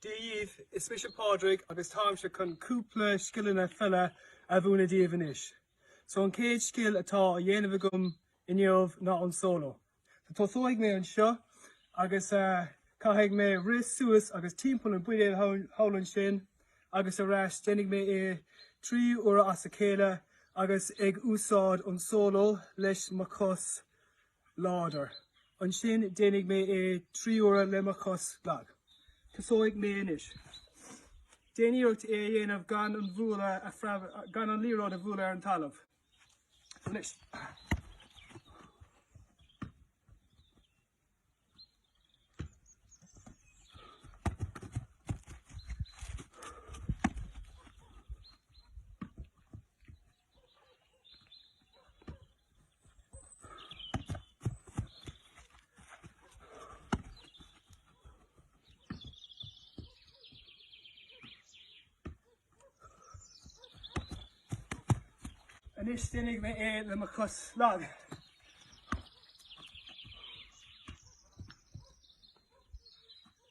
Dia dhíbh, is mise Pádraig agus táimse chun cúpla scileanna peile a mhúineadh díbh anois. So an chéad scil atá á dhéanamh agam inniu ná an solo. So tosóidh mé anseo agus uh, caithfidh mé rith suas agus timpeall an buidéal thall ansin agus ar ais déanfaidh mé é trí uair as a chéile agus ag úsáid an solo leis mo chos láidir. Ansin déanfaidh mé é trí huaire le mo chos lag. Tosóidh mé anois. Déan iarracht é a dhéanamh gan an bhualadh gan an liathróid a bhualadh ar an talamh. Anois. Anois déanfaidh mé é le mo chos lag.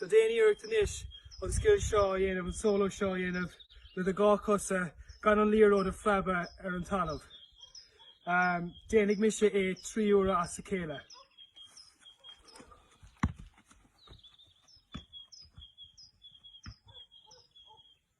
So déan iarracht anois an scil seo a dhéanamh, an solo seo a dhéanamh le do dhá cosa gan an liathróid a phreabadh ar an talamh. Um, déanfaidh mise é trí uaire as a chéile.